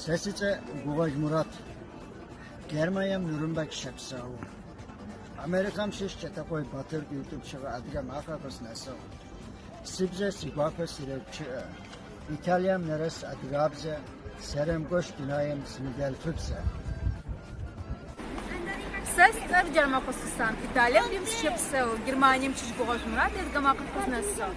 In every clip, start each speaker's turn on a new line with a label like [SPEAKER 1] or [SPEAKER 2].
[SPEAKER 1] Сэ сицӏэ Гугъэж Мурат. Германием Нюрнберг щэпсэу. Америкэм щыщ Кӏэтакъуей Батыр къытӏупщыгъэ адыгэ макъэ къыснэсыгъ. Си бзэр, си гуапэ сырэгущыӏэ. Италием нэрэс адыгабзэ, щэрэмыгъуащ дунаем синыдэлъфыбзэ. Сэ си цӏэр Джармэкъо
[SPEAKER 2] Сусан. Италием Рим сыщэпсэу. Германием щыщ Гугъэж Мурат адыгэ макъэ къызнэсыгъ.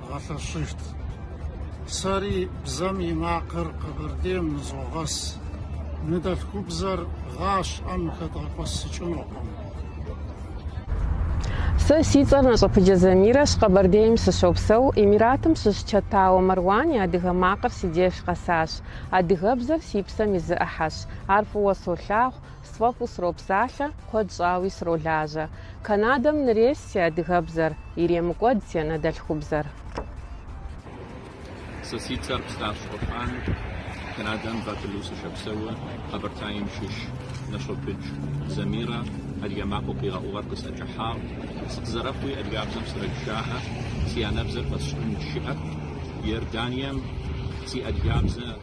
[SPEAKER 3] дгъэлъэщыжт. Сэри бзэм и макъыр Къэбэрдейм нызогъэс. Ныдэлъхубзэр гъащӏэм хэдгъэкӏуэсыкӏынукъым.
[SPEAKER 4] Сэ си цӏэр Нэщӏэпыджэ Замирэщ, Къэбэрдейм сыщопсэу. Эмиратым щыщ Чэтауэ Марван и адыгэ макъыр си деж къэсащ. Адыгэбзэр си псэм и зы ӏыхьэщ. Ар фӏыуэ солъагъу. Сфӏэфӏу сропсалъэ, куэд щӏауи сролажьэ. Канадэм нырес си адыгэбзэр, иремыкӏуэд си
[SPEAKER 5] анэдэлъхубзэр. Сэ си цӏэр Стащ Орхьан, Канадэм Ватерлоо сыщэпсэуэ, Къэбэртаим щыщ Нэщӏэпыдж Замирэ адыгэ макъэу къигъэӏугъэр къысӏэкӏыхьагъ. Сыкъызэрэхъуи адыгабзэм срэгущаӏэ, си анэбзэр пэсщӏын щыӏэп. Иорданием си адыгабзэ.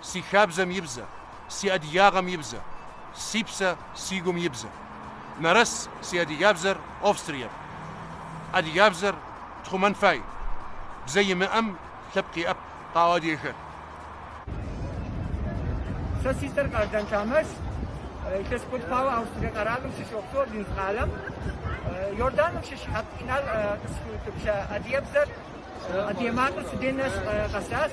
[SPEAKER 6] Си хабзэм и бзэ, си адыгагъэм и бзэ, си псэ, си гум и бзэ. Нэрэс си адыгабзэр Австрие. Адыгабзэр тхъумэн фай. Бзэ имыӏэм лъэпкъ иӏэп, къаӏо адыгэхэр. Сэ си цӏэр Къардан Тамэс, илъэс куэд хъуауэ Австрие
[SPEAKER 7] къэралым сыщопсэу, Линз къалэм. Иорданым щыщ Хьэп Инал къысхуиутӏыпща адыгабзэр, адыгэ макъыр си дей нэс къэсащ.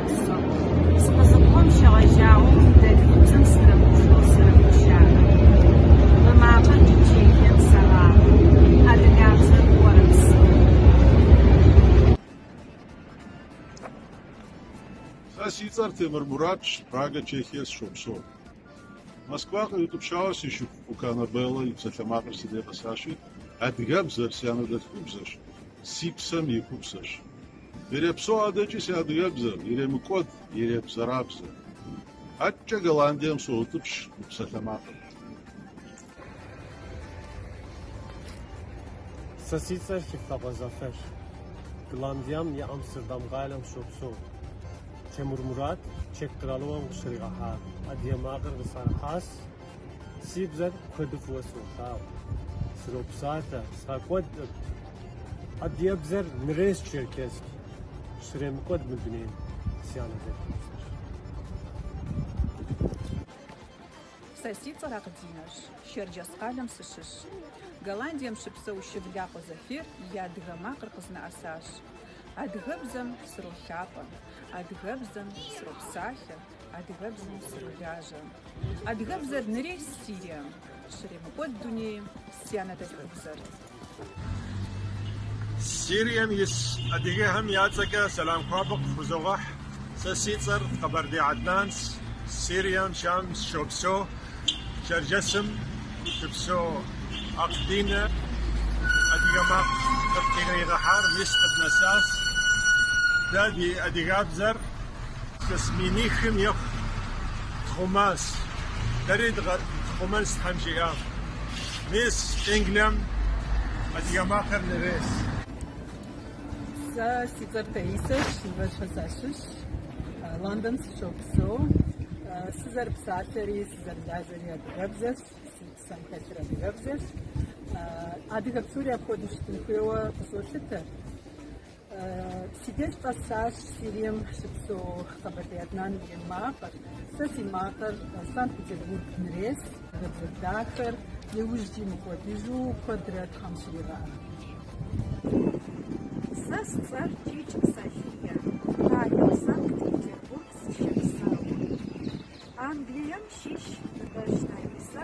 [SPEAKER 2] къэзыгъэпсэу.
[SPEAKER 8] Сыкъызыхъугъэм щегъэжьауэ ныдэлъфыбзэм срэмыплъэу срэгущаӏэ. Мы макъыр ди Чехием сэракъым, адыгабзэр орэпсэу. Сэ си цӏэр Темыр Муратщ, Прага, Чехие сыщопсэу. Москва къриутӏыпщауэ си шыпхъу Кукана Белла и псалъэмакъыр си дей къэсащи, адыгэбзэр си анэдэлъхубзэщ, си псэм и купсэщ. Ирепсо адэкӏи си адыгэбзэр, иремыкӏуэд иребзэрабзэр. Адэкӏэ Голландием соутӏыпщ мы псалъэмакъыр.
[SPEAKER 9] Сэ си цӏэр Щывлакъуэ Зафэрщ. Голландием и Амстердам къалэм сыщопсэу. Темыр Мурат, Чек къэралыгъуэм къыщригъэхьа адыгэ макъыр къысӏэрыхьащ. Си бзэр куэду фӏыуэ солъагъу, сропсалъэ, сфӏэкӏуэдӏым. Адыгэбзэр нрес Черкесск, щремыкӏуэд мы дунейм си анэдэлъхубзэр.
[SPEAKER 10] Сэ си цӏэр Акъдинэщ, Щэрджэс къалэм сыщыщ. Голландием щыпсэу Щывлакъуэ Зафер и адыгэ макъыр къызнэӏэсащ. Адыгэбзэм сролъапӏэ, адыгэбзэм сропсалъэ, Адыгэбзэм сролажьэ. Адыгэбзэр нрес Сирием, щремыкӏуэд дунейм си анэдэлъхубзэр.
[SPEAKER 11] Сирием ис адыгэхэм я цӏэкӏэ сэлам хуабэ къыфхузогъэхь. Сэ си цӏэр Къэбэрдей Аднанс, Сирием Щам сыщопсэу, Чэрджэсым щыпсэу Акъ Динэ адыгэ макъ къытхуригъэхьар мис къыднэсащ. Дэ ди адыгэбзэр. Илъэс минихым ехъу тхъумащ. Дэри дыкъэтхъумэнщ Тхьэм жиӏэм. Мис Англием адыгэ макъыр нрес. Сэ
[SPEAKER 12] си цӏэр Таисэщ, Ныбэжьхэ сащыщ. Лондон сыщопсэу. Сызэрыпсалъэри, сызэрылажьэри адыгэбзэщ, си псэм хэлъыр адыгэбзэщ. Адыгэ псори апхуэдэу щытын хуейуэ къысолъытэ. Си деж къэсащ Сирием щыпсэу Къэбэрдей Аднан и макъыр. Сэ си макъыр Санкт-Петербург нрес, адыгэбзэ дахэр иужькӏи мыкӏуэдыжу куэдрэ Тхьэм щригъэӏэ. Сэ си цӏэр Чич София,
[SPEAKER 10] къалэм Санкт-Петербург сыщопсэу. Англием щыщ Ныбэжь Таисэ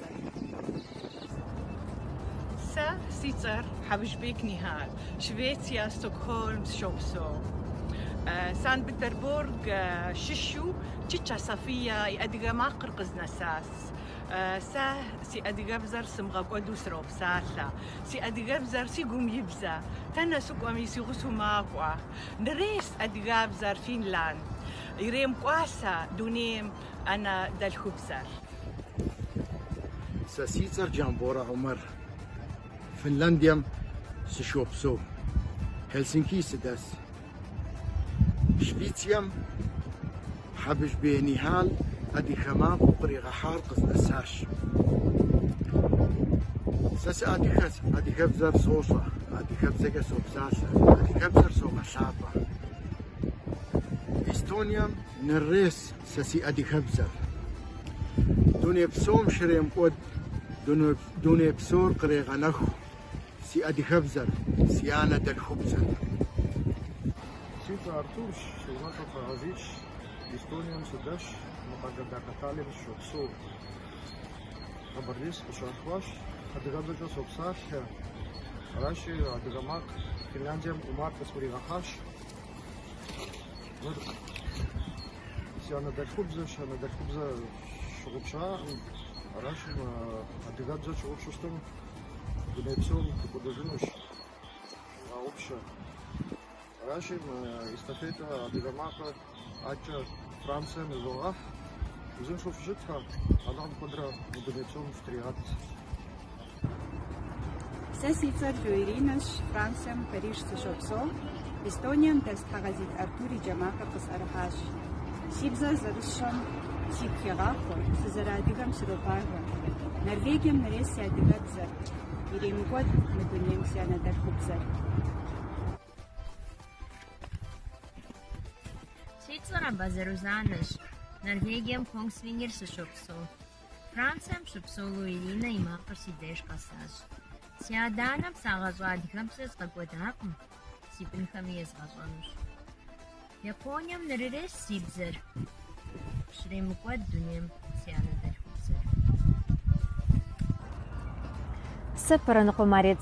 [SPEAKER 13] Сэ си цӏэр Хьэбыжбек Нихьал, Швеция, Стокгольм сыщопсэу. Санкт-Петербург щыщу Чыча София и адыгэ макъыр къызнэсащ. Сэ си адыгэбзэр сымыгъэкӏуэду сыропсалъэ. Си адыгэбзэр си гум и бзэ, тэнэ сыкӏуэми си гъусэу макӏуэ. Нрес адыгэбзэр Финланд, иремыкӏуасэ дунейм анэдэлъхубзэр.
[SPEAKER 3] Сэ си цӏэр Джамборэ Умар. Финляндием сыщопсэу. Хелсинки сыдэс. Швецием Хьэбыжбек Нихьал адыгэ макъыу къригъэхьар къызнэсащ. Сэ сыадыгэщ, адыгэбзэр сощӏэ, адыгэбзэкӏэ сопсалъэ, адыгэбзэр согъэлъапӏэ. Эстонием нрес Сэ си адыгэбзэр дуней псом щремыкӏуэд, дуней псор кърегъэнэху си адыгэбзэр, си анэдэлъхубзэр. Си цӏэ Артурщ, си унэцӏэ Фэгъазищ, Эстонием сыдэсщ, мы къалэ дахэ Таллин сыщопсэу. Къэбэрдей сыкъыщалъхуащ, адыгэбзэкӏэ сопсалъэ. Аращи, адыгэ макъ Финляндием Умар къысхуригъэхьащ. Си анэдэлъхубзэщ, анэдэлъхубзэ щыгъупщаӏым. Аращи, адыгэбзэ тщыгъупщу щытым, мы дуней псом дыкӏуэдыжынущ. Щыгъаупщэ. Аращи, мы эстафетэ адыгэ макъэ ӏэкӏэ Францием изогъэхь. Узыншэу фыщытхэ, Алыхьым куэдрэ мы дуней псом фытригъэт.
[SPEAKER 10] Сэ си цӏэр Лу Иринэщ, Францием, Париж сыщопсэу. Эстонием дэс Тхьэгъэзит Артур и джэ макъыр къысӏэрыхьащ. Си бзэр зэрысщӏэм сигу хегъахъуэ, сызэрыадыгэм сыропагэ. Норвегием нырес си адыгэбзэр, иремыкӏуэд мы дунейм си
[SPEAKER 14] анэдэлъхубзэр. Си цӏэр Абазэ Рузанэщ, Норвегием Конгсвингер сыщопсэу. Францием щыпсэу Лу Иринэ и макъыр си деж къэсащ. Си адэ-анэм сагъэщӏа адыгэбзэр згъэкӏуэдакъым, си бынхэми езгъэщӏэнущ. Японием нрырес си бзэр, щремыкӏуэд дунейм си анэдэлъхубзэр. Сэ Пэрэныкъуэ Марет